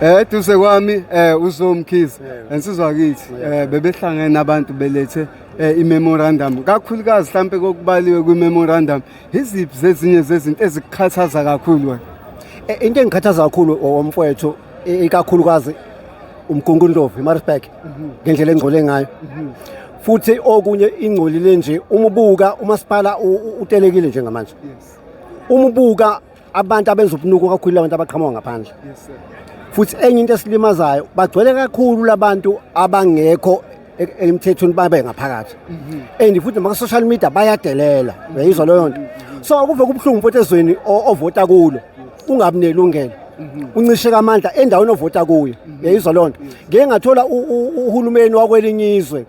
Eh duse kwami eh uzomkhizi ensizwa kithi eh bebehlangene abantu belethe eh, i-memorandum kakhulukazi mhlampe kokubaliwe kwi-memorandum iziphi zezinye zezinto ezikukhathaza kakhulu wena Eh, into engikhathaza kakhulu omfowethu i- ikakhulukazi umgungundovu imarisburg ngendlela engcole ngayo futhi okunye ingcolile nje umubuka umasipala u- u- utelekile njengamanje umubuka abantu abenza ubunuku kakhulu abantu abaqhamuka ngaphandle futhi enye into esilimazayo bagcwele kakhulu labantu abangekho e- emthethweni babe ngaphakathi mhm. and futhi maka social media bayadelela uyayizwa leyo nto mhm. so kuve kubuhlungu futhi ezweni ovota kulo ungabi nelungelo mhm. uncisheka amandla endaweni ovota kuyo uyayizwa leyo nto ngeke ngathola uhulumeni wakwelinye izwe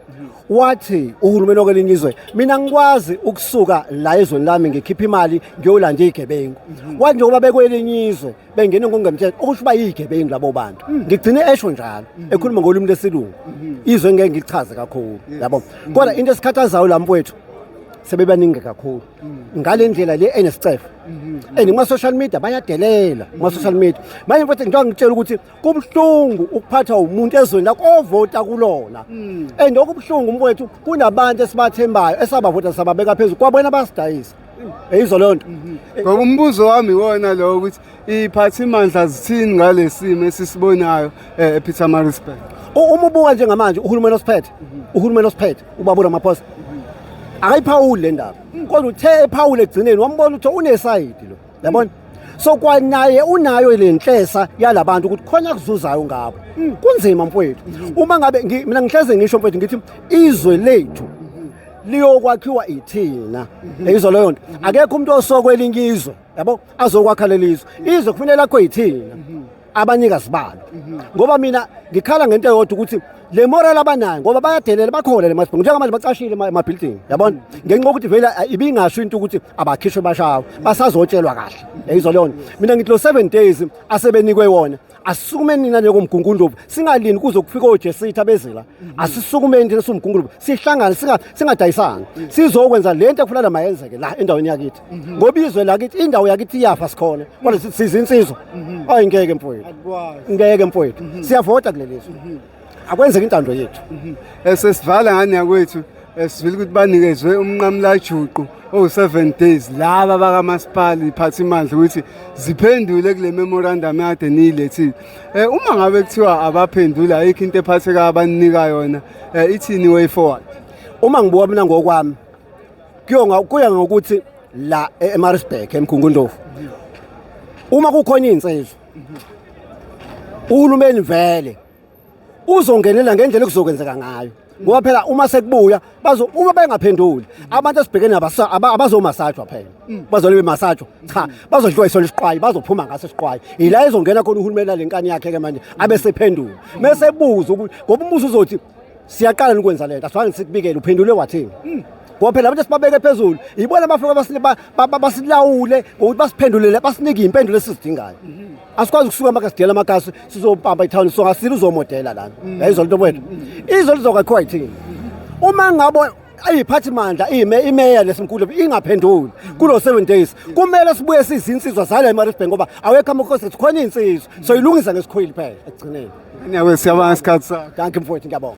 wathi uhulumeni okwelinye izwe mina ngikwazi ukusuka la ezweni lami ngikhipha imali ngiyolanda igebengu mhm. wathi njengoba bekwelinye izwe bengene ngokungemthetho okusho uba yigebengu labo bantu mhm. ngigcine esho njalo mhm. ekhuluma ngolimi lesilungu izwe ngeke ngichaze kakhulu yabo kodwa into esikhathazayo la mfowethu sebebaningi kakhulu ngale ndlela le enescefe and kuma-social media bayadelela kuma-social media manje mfowethu njengoba ngitshela ukuthi kubuhlungu ukuphathwa umuntu ezweni lakho ovota kulona hmm. and okubuhlungu umkwethu kunabantu esibathembayo esabavota sababeka phezulu kwabona basidayisa eyizo leyo nto mhm. ngoba umbuzo wami iwona lowo ukuthi iy'phathimandla zithini ngale simo esisibonayo eh, epeter marisburg uma ubuka njengamanje uhulumeni osiphethe mhm. uhulumeni osiphethe ubaba uramaphosa mhm. akayiphawuli le ndaba kodwa uthe ephawule ekugcineni wambona ukuthi unesayidi lo yabona so kwanaye unayo le nhlesa yalabantu ukuthi khona kuzuzayo ngabo mm. kunzima mfowethu mm-hmm. uma ngabe mina ngihleze ngisho mfowethu ngithi izwe lethu mm-hmm. liyokwakhiwa ithina mm-hmm. eyizo leyo nto akekho umuntu osokwelinye izwe yabo azokwakha lelizwe izwe kufanele lakho yithina abanikazi balo ngoba mina ngikhala ngento eyodwa ukuthi le moral abanayo ngoba bayadelela bakhona le masibhungu njengamanje bacashile ema- ema-building yabona ngenxa yokuthi vele a- ibingasho into ukuthi abakhishwe bashawe basazotshelwa kahle yayizo leyo nto mina ngithi lo seven days asebenikwe wona asisukumeni nina njengoMgungundlovu singalini kuze kufike oJesithi abezila asisukumeni thina siwuMgungundlovu sihlangane singa- singadayisani sizokwenza le nto ekufanele mayenzeke la endaweni yakithi mhm. ngoba izwe lakithi indawo yakithi iyafa sikhona kodwa sithi siza insizwa mhm. ayi ngeke mfowethu ngeke mfowethu mhm. siyavota kuleli zwe akwenzeki intando yethu esesivala eh, ngane yakwethu esivile eh, ukuthi banikezwe umnqamulajuqu owu-seven days laba bakamasipala iphatha imandla ukuthi ziphendule kule memorandum yade niyilethile um uma ngabe kuthiwa abaphendule ayikho into ephatheka abaninika yona um ithini way forward uma ngibuka mina ngokwami kuyonga kuya ngokuthi la e- eMaritzburg eMkhungundlovu uma kukhona izinsizwa uhulumeni vele uzongenela ngendlela okuzokwenzeka ngayo ngoba phela uma sekubuya bazo uma bengaphenduli abantu esibhekene nabo asa- aba- abazomasajwa phela bazole bemasajwa cha bazodliwa isona isiqwayi bazophuma ngaso isiqwayi yila ezongena khona uhulumeni nalenkani yakhe ke manje abesephendula mesebuza ukuthi ngoba umusa uzothi siyaqala nokwenza lento asifani sikubikele uphendule wathini hmm. ngoba phela abantu esibabeke phezulu yibona abafike basilawule ngokuthi basiphendulele basinike iy'mpendulo esizidingayo mhm. asikwazi ukusuka amakasidela amakasi sizobamba ithawuni so ngasile uzomodela lana mhm. yayizolo nto wethu mhm. izolo lizokakhiwa yithini uma ngabo ayiphathi mandla ime imeya lesimkhulu ingaphenduli kulo 7 days kumele sibuye sizinsizwa zala eMaritzburg ngoba awekho amakhosi sikhona insizwa so ilungisa ngesikhwili phela ekugcineni ngiyawe siyabanga isikhathi sakho danke mfowethu ngiyabonga